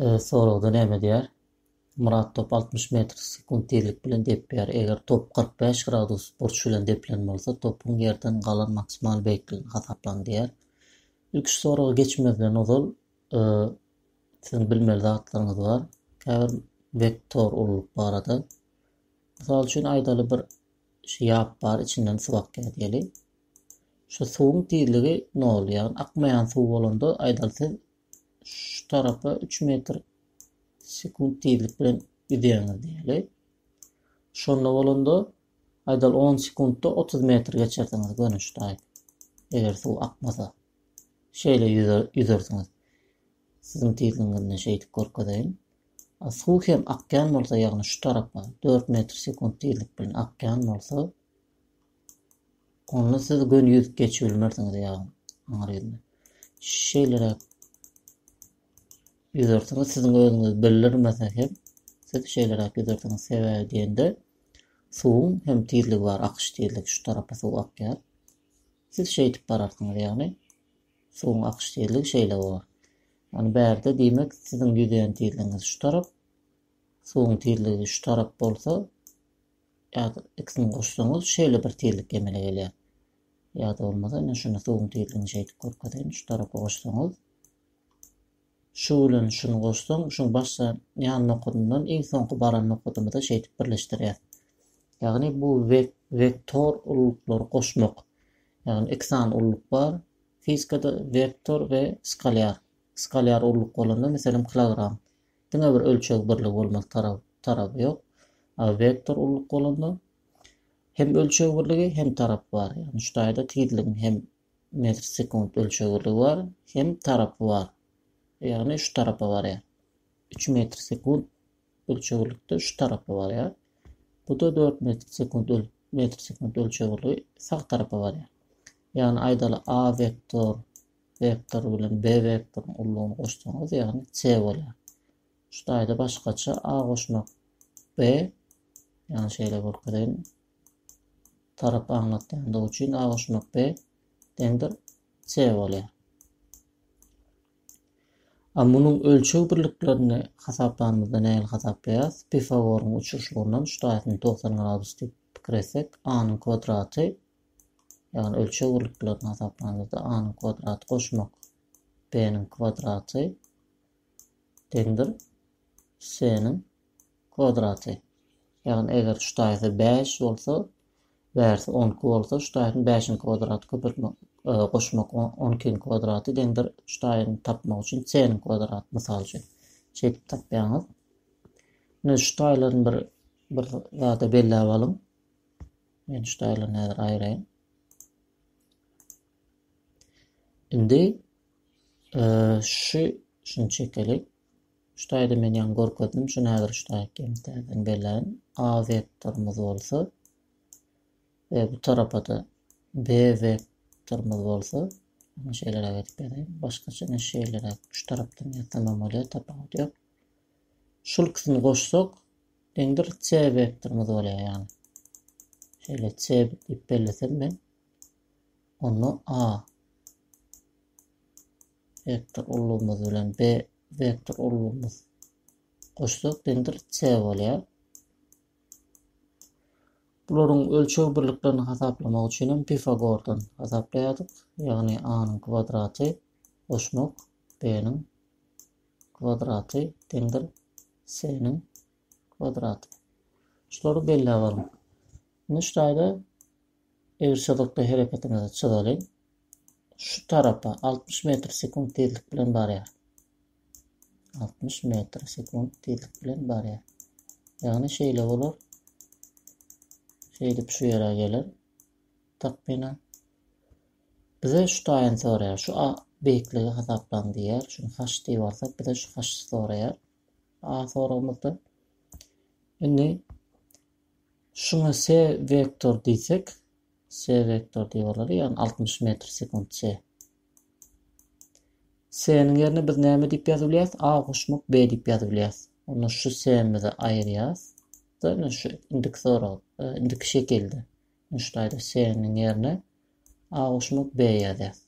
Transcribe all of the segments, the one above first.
Soragda näme diýýär? Myrat top altmyş metr sekunt tizlik bilen depýär. Eger top kyrk bäş gradus burç bilen depilen bolsa, topuň ýerden galan maksimal beýikligini hasaplaň diýýär. Ilki şu soragy geçmezden ozal siziň bilmeli zatlaryňyz bar. Käbir vektor ululyk barada. Mysal üçin aýdaly bir şu ýap bar, içinden suw akýar diýeli. Şu suwuň tizligi nol, ýagny akmaýan suw bolanda aýdaly siz şu tarapa 3 metr sekunt tizlik bilen gidýäňiz diýeli. Şonda bolanda aýdal 10 sekuntda 30 metr geçersiňiz gönüşdaý. Eger suw akmasa. Şeýle ýüzersiňiz. Siziň tizligiňizde şeýdip görkezeýin. Suw hem akýan bolsa, ýagny şu tarapa 4 metr sekunt tizlik bilen akýan bolsa, Onda siz göni ýüzüp geçip bilmersiňiz ýagny aňry ýüzüne. Şeýleräk ýüzersiňiz, siziň özüňiz bildirmese hem siz şeýleräk ýüzersiňiz. Sebäbi diýende suwuň hem tizligi bar, akyş tizligi şu tarapa suw akýar. Siz şeýdip bararsyňyz ýagny suwuň akyş tizligi şeýle bolar. Ýagny bärde diýmek siziň ýüzýän tizligiňiz şu tarap, suwuň tizligi şu tarap bolsa, Ýa-da ikisini goşsaňyz şeýle bir tizlik emele gelýär. Ýa-da bolmasa ine şunda suwuň tizligini şeýdip görkezeýin şu tarapa goşsaňyz. Şu bilen şuny goşsaň şuň başda ýan nokadyndan iň soňky baran nokadymyza şeýdip birleşdirýär. Ýagny bu vek vektor ululyklary goşmak. Ýagny iki sany ululyk bar. Fizikada vektor we skalýar. Skalýar ululyk bolanda meselem kilogram. Diňe bir ölçeg birligi bolmaly tarap taraby ýok. A wektor ulylyk bolanda hem ölçeg birligi hem tarap bar. Ýagny şu taýda tizligiň hem metr sekunt ölçeg birligi bar, hem tarapy bar. Ýagny şu tarapa barýar. 3 metr sekunt ölçeg birlikde şu tarapa barýar. Bu da 4 metr sekunt metr sekunt ölçeg birligi sag tarapa barýar. Ýagny aýdaly A wektor Wektor bilen B wektoryň ullugyny goşsaňyz ýagny C bolýar. Şu taýda başgaça A goşmak B ýagny şeýle görkezeýin. Tarap aňlatýandygy üçin A goşmak B deňdir C bolýar. A munuň ölçeg birliklerini hasaplanymyzda nähili hasaplaýarys? Pifagoryň uçuşlygyndan şu taýsyny 90 gradus diýip pikir etsek, A-nyň kwadraty Ýagny ölçeg birliklerini hasaplanymyzda a-nyň kwadraty goşmak b-niň kwadraty deňdir s-niň kwadraty. Ýagny eger şu taýsa 5 bolsa, bärsi 10 iki bolsa, şu taýyň 5-iň kwadraty köpeltmek, e, goşmak 10 ikiň kwadraty deňdir şu taýyny tapmak üçin s-niň kwadraty mysal üçin. Şeýdip tapýaňyz. Indi şu taýlaryny bir bir zada belläp alyň. Men şu taýlaryny häzir aýraýyn. Indi e, şu şunu çekelik. Şu taýda men ýaňy görkezdim. Şuny häzir şu taýa kemterden belän A vektorymyz bolsa we bu tarapa-da B vektorymyz bolsa Ana şeýle edip berýin. Başgaça men şeýle şu tarapdan ýatamam bolýar, tapawudy ýok. Şul ikisini goşsak, Iň bir C wektorymyz bolýar ýagny. Şeýle C diýip bellesem men. Onda A vektor ulgamymyz bilen B vektor ulgamymyz goşsak deňdir C bolýar. Bularyň ölçeg birliklerini hasaplamak üçin hem Pifagordan hasaplaýardyk. Ýagny A-nyň kwadraty goşmak B-niň kwadraty deňdir s-niň kwadraty. Şulary belläp alyň. Indi şu taýda egriçyzykda hereketiňizi çyzalyň. Şu tarapa 60 metr sekunt tezlik bilen barýar. 60 metr sekunt tezlik bilen barýar. Ýagny şeýle bolar. Şeýdip şu ýere geler. Takmynan Bize şu taýyny soraýar, şu a beýikligi hasaplaň diýýär. Şuny haş diýip alsak, bize şu haşy soraýar. A soragymyzda. Indi şuňa s vektor diýsek, s vektor diýip alary, ýagny 60 metr sekunt s. S-niň ýerine biz näme diýip ýazyp bilýäris? A goşmak B diýip ýazyp bilýäris. Onda şu s-mizi aýyrýas. Däl şu indiki sorag, indiki şekilde. Şu slaýda S-niň ýerine A goşmak B ýazýas.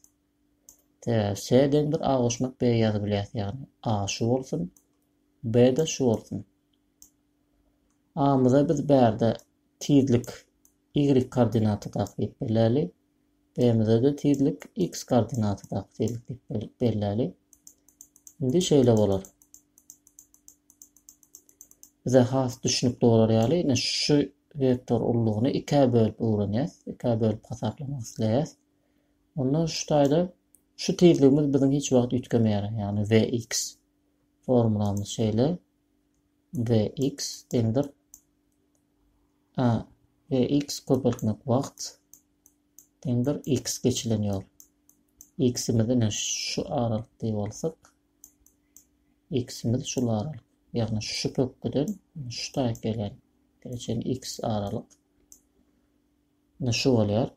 Sebäbi S deňdir A goşmak B ýazyp bilýäs. Ýagny A şu bolsun, B-de şu bolsun. A-myza biz bärde tizlik Y koordinaty dakyp biläli. BMZ-de tizlik x koordinatadaky tizlik diýip belläli. Indi şeýle bolar. Bize has düşünikli bolar ýaly, ine şu vektor ullugyny ikä bölüp öwrenýäs, ikä bölüp hasaplamak isleýäs. Onda şu taýda şu tizligimiz biziň hiç wagt üýtgemeýär, ýagny vx. Formulamyz şeýle. vx deňdir a vx köpeltmek wagt deňdir x geçilen ýol. X-imiz ine şu aralyk diýip alsak, X-imiz şul aralyk. Ýagny şu pökgüden şu taýak gelen geçen x aralyk. Ine şu bolýar.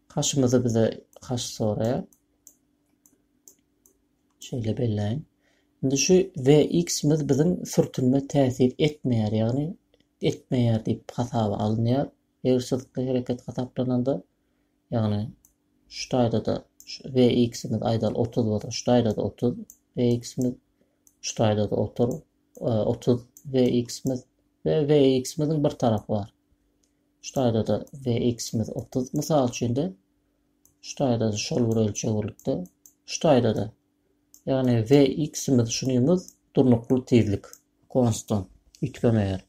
Kaşymyzy bize kaş soraýar. Şeýle belläýin. Indi şu VX-miz biziň sürtünme täsir etmeýär, ýagny etmeýär diýip hasaba alynýar. Ýygyşyzykly hereket hasaplananda, ýagny şu taýda-da VX-imiz aýdaly otuz bolsa, şu taýda-da otuz VX-imiz, şu taýda-da otur, otuz VX-imiz we VX-imiziň bir tarapy bar. Şu taýda-da VX-imiz otuz. Mysal üçin-de, şu taýda-da şol bir ölçeg bolupdy. Şu taýda-da, ýagny VX-imiz şunymyz durnukly tizlik, konstant, üýtgemeýär.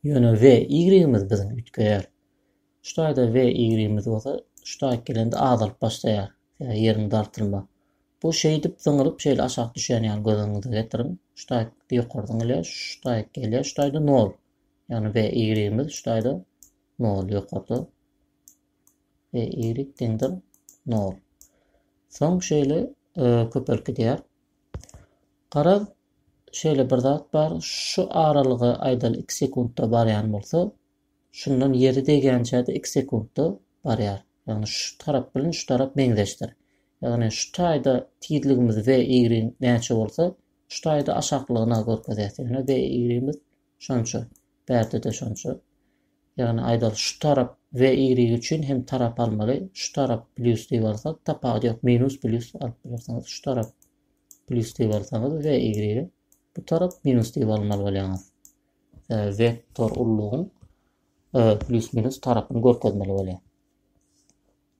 Ýöne we ýigrigimiz biziň üýtgeýär. Şu taýda we ýigrigimiz bolsa şu taýk gelende azalyp başlaýar, sebäbi ýeriň dartylma. Bu şeýdip zyňylyp şeýle aşak düşýän ýaly göz öňüňize getiriň. Şu taýk ýokary zyňylýar, şu taýk gelýär, şu taýda nol. Ýagny we ýigrigimiz şu taýda nol ýokarda. We ýigrik deňdir nol. Soň şeýle köpelip gidýär. Garaz, şeýle bir zat bar, şu aralygy aýdaly iki sekuntda barýan bolsa, şundan ýeri degýänçä-de iki sekuntda barýar. Ýagny şu tarap bilen şu tarap meňzeşdir. Ýagny şu taýda tizligimiz V, Y näçe bolsa, şu taýda aşaklygyna görkezýär. Ýöne V, Y-miz Şonça, bärde-de şonça. Ýagny aýdaly şu tarap we ýigrigi üçin hem tarap almaly. Şu tarap plýus diýip alsak, tapawudy ýok, minus plýus alyp bilersiňiz. Şu tarap plýus diýip alsaňyz we ýigrigi bu tarap minus diýip almaly bolýaňyz. Wektor ullugyň plýus minus tarapyny görkezmeli bolýar.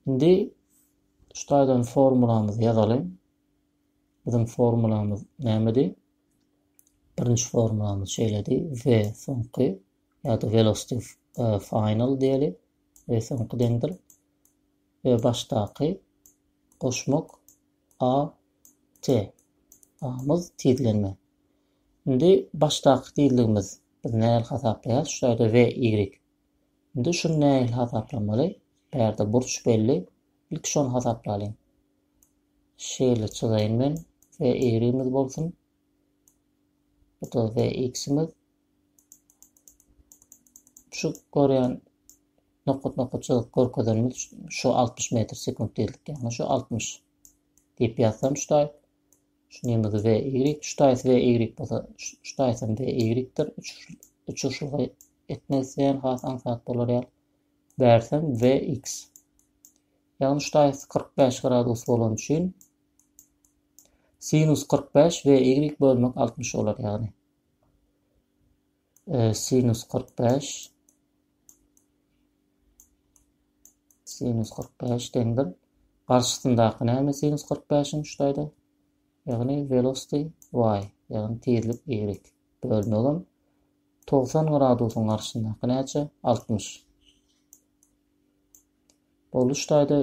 Indi şu taýdan formulamyzy ýazalyň. Biziň formulamyz nämedi? Birinji formulamyz şeýledi, we soňky ýa-da velocity final diýeli, we soňky deňdir, we başdaky goşmak a t amyz tizlenme. Indi başdaky tizligimiz biz nähili hasaplaýarys, şu ýerde v y Indi şuny nähili hasaplamaly? Bärde burç belli. Ilki şony hasaplalyň. Şeýle çyzaýyn men. Ve y-imiz bolsun. Bu da ve x-imiz. Şu görýän nokat nokat çyzyp görkezenimiz şu 60 metr sekund diýildik. Yani şu 60 diýip ýazsam şuday. Şu nemigi V Y, şu taýsy V Y bolsa, şu taýsam V Y-dir. Uçuşlygy etmek isleýän has aňsat bolar ýaly. Bärsem V X. Ýagny şu taýsy 45 gradus bolan üçin sinus 45 V Y bölmek 60 bolar ýagny. Sinus kyrk bäş sinus kyrk bäş deňdir. Garşysyndaky näme sinus kyrk bäşiň şu taýda? Ýagny velocity y, ýagny tizlik y. Bölmegim togsan gradusyň garşysyndaky näçe? Altmyş. Ol üç taýda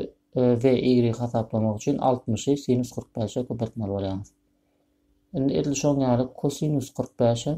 we y hasaplamak üçin altmyşy sinus kyrk bäşe köpeltmeli bolýaňyz. Indi edil şoň ýaly kosinus kyrk bäş hem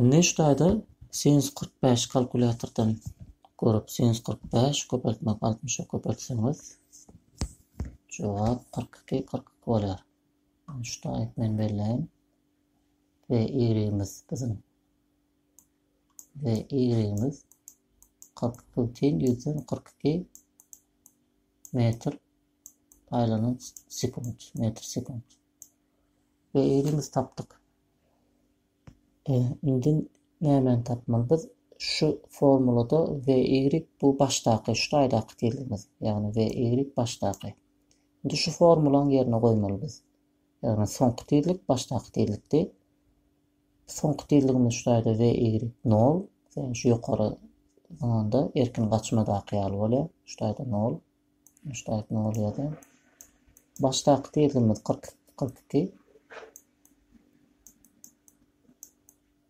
Indi şu taýda sinus kyrk bäşi kalkulýatordan görüp, sinus kyrk bäş köpeltmek altmyşa köpeltseňiz, jogap kyrk iki, kyrk iki bolýar. Şu taýyp men belläýin. Ve ýigimiz biziň. Ve ýigimiz kyrk putin ýüzden kyrk iki metr aýlanan sekund, metr sekund. we eýlimiz tapdyk. Indi nämäni tapmaly biz? Şu formulada we y bu başdaky, şu taýdaky tizligimiz, ýagny we y başdaky. Indi şu formulany ýerine goýmaly biz. Ýagny soňky tizlik başdaky tizlikdi. Soňky tizligimiz şu taýda we y 0, şu ýokary zamanda erkin gaçmadaky ýaly bolýar, şu taýda 0. Başdaky ne bolýada? Başdaky tizligimiz 40 42.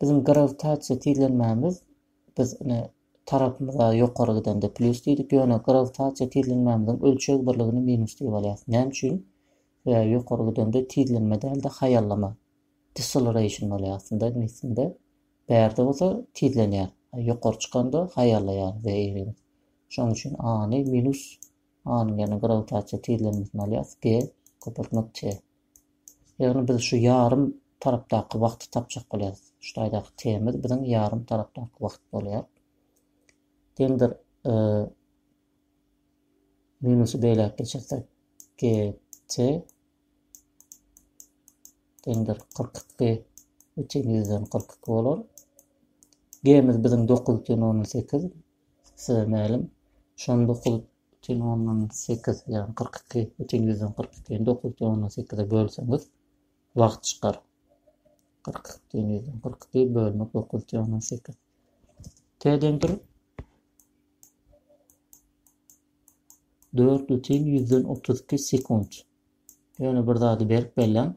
Bizim gravitasiýa tizlenmämiz biz ine tarapymyza ýokary gidende plus diýdik, ýöne gravitasiýa tizlenmämiziň ölçeg birligini minus diýip alýarys. Näme üçin? Sebäbi ýokary gidende tizlenme däl-de haýallama. Deceleration bolýar aslynda neslinde. Bärde bolsa tizlenýär. Ýokary çykanda haýallaýar zeýrimiz. Şonuň üçin A-ny minus A-nyň ýerine grawitasiýa tizlenmesini alýarys, G köpeltmek T. Ýagny biz şu ýarym tarapdaky wagty tapjak bolýarys. Şu taýdaky T-miz biziň ýarym tarapdaky wagt bolýar. Deňdir e, minusy beýläk geçirsek GT deňdir 42 üçin 142 bolar. G-miz biziň 9 üçin 18, Size mälim, şu on dokuz bütin ondan sekiz, ýagny kyrk iki bütin ýüzden kyrk ikini dokuz bütin ondan sekize bölseňiz, wagt çykar. Kyrk iki bütin ýüzden kyrk iki bölmek dokuz bütin ondan sekiz. T deňdir dört bütin ýüzden otuz iki sekunt. Ýöne bir zady berk belläň.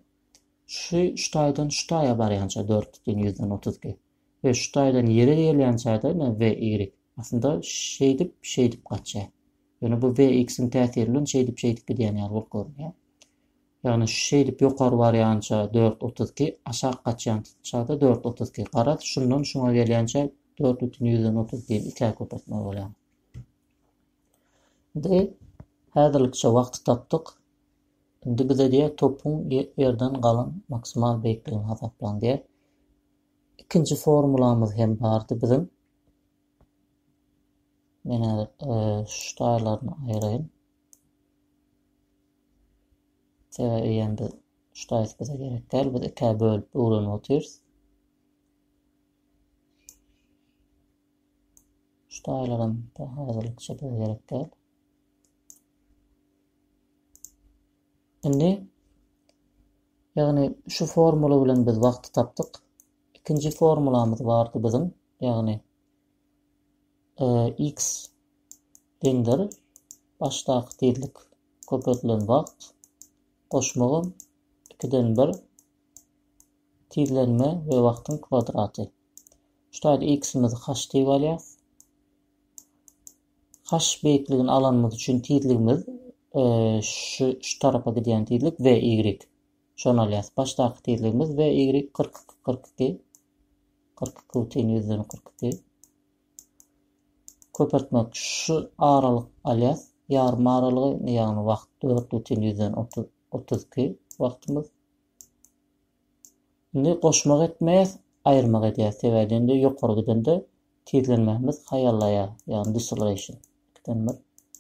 Şu şu taýdan şu taýa barýança dört bütin ýüzden otuz iki. we şu taýdan ýere gelýän çagda ine we, ýigrik, aslynda şeýdip, şeýdip gaçýar. Ýöne bu we, x-iň täsiri bilen şeýdip, şeýdip gidýän ýaly bolup görünýär. Ýagny şu şeýdip ýokary barýança dört otuz iki, aşak gaçýan çagda dört otuz iki. Garaz, şundan şuňa gelýänçä dört bütin ýüzden otuz ikini ikä köpeltmeli bolýarys. Indi häzirlikçe wagty tapdyk. Indi bize diýýär, topuň ýerden galan maksimal beýikligini hasaplaň diýýär. Ikinji formulamyz hem bardy biziň. Men häzir şu taýlaryny aýyraýyn. Sebä eýen biz şu taýsy bize gerek däl. Biz ikä bölüp öwrenip otyrys. Şu taýlar hem häzirlikçe bize gerek däl. Indi, ýagny şu formula bilen biz wagty tapdyk. Ikinji formulamyz bardy biziň, ýagny e, x deňdir başdaky tizlik köpeldilen wagt goşmagym 2-den 1 tizlenme we wagtyň kwadraty. Şu taýda x-imizi h diýip alýas. Kaş beýikligini alanymyz üçin tizligimiz şu şu tarapa gidýän tizlik we y şony alýas. Başdaky tizligimiz we y kyrk iki kyrk iki kyrk iki butyn ýüzden kyrk iki köpeltmek şu aralyk alýas. Ýarym aralygy ýagny wagt dört butyn ýüzden otuz iki wagtymyz. Indi goşmak etmeýäs, aýyrmak edýäs. Sebäbi indi ýokary gidende tizlenmämiz haýallaýar. Ýagny deceleration. Ikinden bir.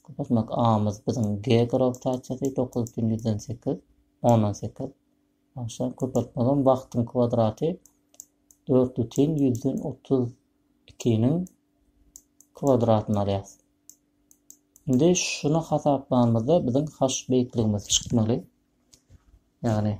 Köpeltmek A-myz biziň G grawitasiýasy dokuz butyn ýüzden sekiz, ondan sekiz. Aşa köpeltmegem wagtyň kwadraty dört butyn ýüzden otuz ikiniň kwadratyny alýas. Indi şuny hasaplanymyzda biziň H beýikligimiz çykmaly. Ýagny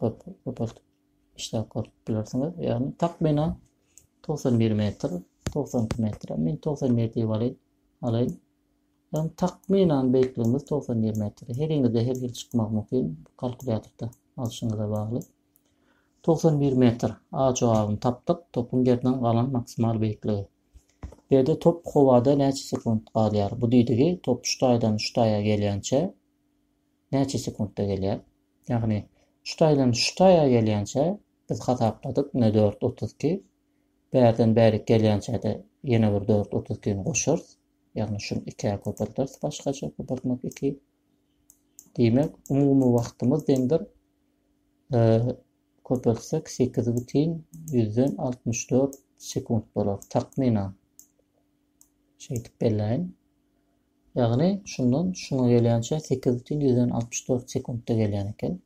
Köpeltip işläp görüp bilersiňiz. Ýagny takmynan 91 metr, 92 metr. Men 91 diýip alaýyn. Alaýyn. Ýagny takmynan beýikligimiz 91 metr. Heriňizde her hil çykmagy mümkin. Kalkulýatorda alşyňyza bagly. 91 metr. A jogabyny tapdyk. Topuň ýerden galan maksimal beýikligi. Berde top howada näçe sekund galýar? Bu diýdigi top şu taýdan şu taýa gelýänçä näçe sekuntda gelýär. Ýagny şu taýdan şu taýa gelýänçä biz hasapladyk ine dört otuz iki, bärden bärik gelýänçä-de ýene bir dört otuz ikini goşarys, ýagny şuny ikä köpelderis başgaça köpeltmek iki. Diýmek, umumy wagtymyz deňdir köpeltsek sekiz bütin ýüzden altmyş dört sekunt bolar takmynan. Şeýdip belläýin. Ýagny şundan şuňa gelýänçä sekiz bütin ýüzden altmyş dört sekuntda gelýän eken.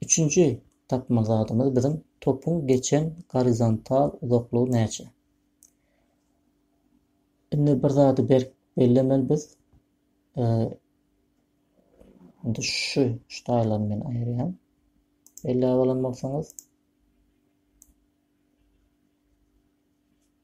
Üçünji tapmaly zadymyz biziň topuň geçen gorizontal uzaklygy näçe? Indi bir zady berk bellemeli biz. Indi şu şu taýlary men aýyrýan. Belläp alan bolsaňyz.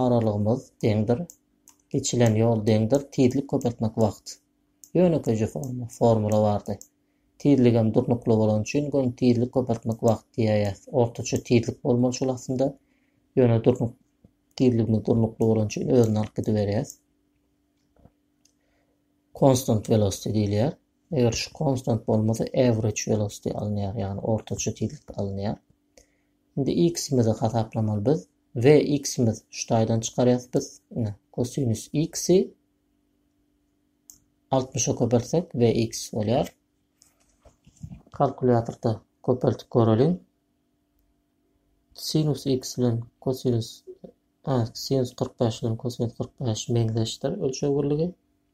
Aralygymyz deňdir. Geçilen ýol deňdir. Tizlik köpeltmek wagt. Ýönekeýje forma, formula bardy. Tizligem durnukly bolany üçin göni tizlik köpeltmek wagt diýäýýäs. Ortaça tizlik bolmaly şol aslynda. Ýöne durnuk tizligimiz durnukly bolany üçin özüni alyp gidiberýäs. Constant velocity diýilýär. Eger şu konstant bolmasa average velocity alynýar, ýagny ortaça tizlik alynýar. Indi x-imizi hasaplamaly biz. V x-imiz şu taýdan çykarýas biz. Ine, kosinus x-i 60-a köpeltsek V x bolýar. Kalkulýatorda köpeltip göreliň. Sinus x bilen kosinus sinus 45 bilen kosinus 45 meňzeşdir ölçeg birligi.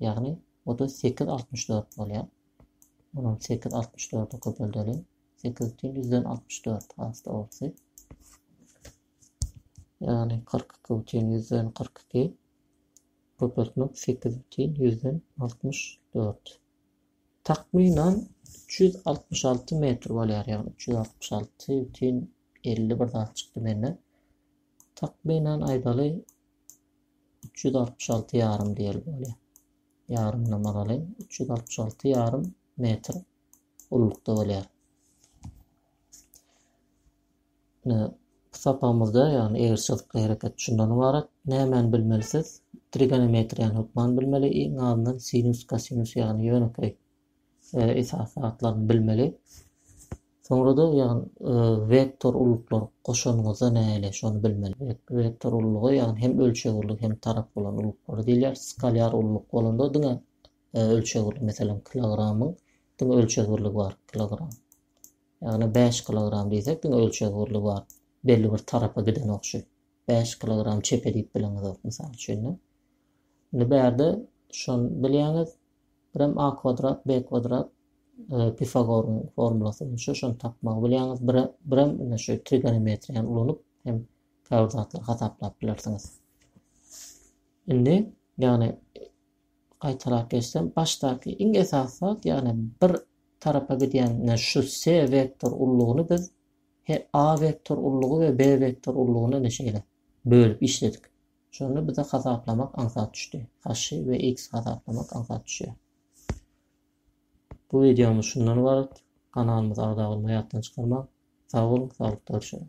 Ýagny, otuz sekiz altmyş dört bolýar. Munam sekiz altmyş dörde köpeldeliň. Sekiz üçin ýüzden altmyş dört has dogrusy. Ýagny, kyrk iki üçin ýüzden kyrk iki. Köpeltmek sekiz üçin ýüzden altmyş dört. Takmynan üç ýüz altmyş alty metr bolýar. Ýagny, üç ýüz altmyş alty üçin elli bir zat çykdy mende. Takmynan aýdaly üç ýüz altmyş alty ýarym diýeli bolýar. Ýarymyna magaly üç ýüz altmyş alty ýarym metr ullukda bolýar. Bu sapamyzda ýagny egirçilik hereket şundan ibarat. Nämäni bilmeli siz? Trigonometriýany hökman bilmeli. Iň azyndan sinus, kosinus ýagny ýönekeý esasy zatlaryny bilmeli. Soňra-da ýagny e, vektor ulluklar goşanyňyzda näle şony bilmeli. Vektor ullugy ýagny hem ölçeg ulluk hem tarap bolan ulluklara diýilýär. Skalýar ulluk bolanda diňe e, ölçeg ulluk meselem kilogramyň diňe ölçeg birligi bar kilogram. Ýagny 5 kilogram diýsek diňe ölçeg birligi bar. Belli bir tarapa giden okşy. 5 kilogram çepe diýip bileňiz ok misal üçin. Indi bärde şon bilýäňiz Birem a kwadrat, b kwadrat, Pifagoryň formulasy boýunça şony tapmagy bilýäňiz. Bire, birem ine şu trigonometriýany ulanyp hem käbir zatlary hasaplap bilersiňiz. Indi, ýagny gaýtalap geçsem, başdaky iň esasy zat, ýagny bir tarapa gidýän ine şu s wektor ullugyny biz he a wektor ullugy we b wektor ullugyny ine şeýle bölüp işledik. Şonda bize hasaplamak aňsat düşdi. Haşy we x hasaplamak aňsat düşýär. Bu videomuz şundan ibarat. Kanalymyza agza bolmagy ýatdan çykarmaň. Sag boluň, saglykda görüşeliň.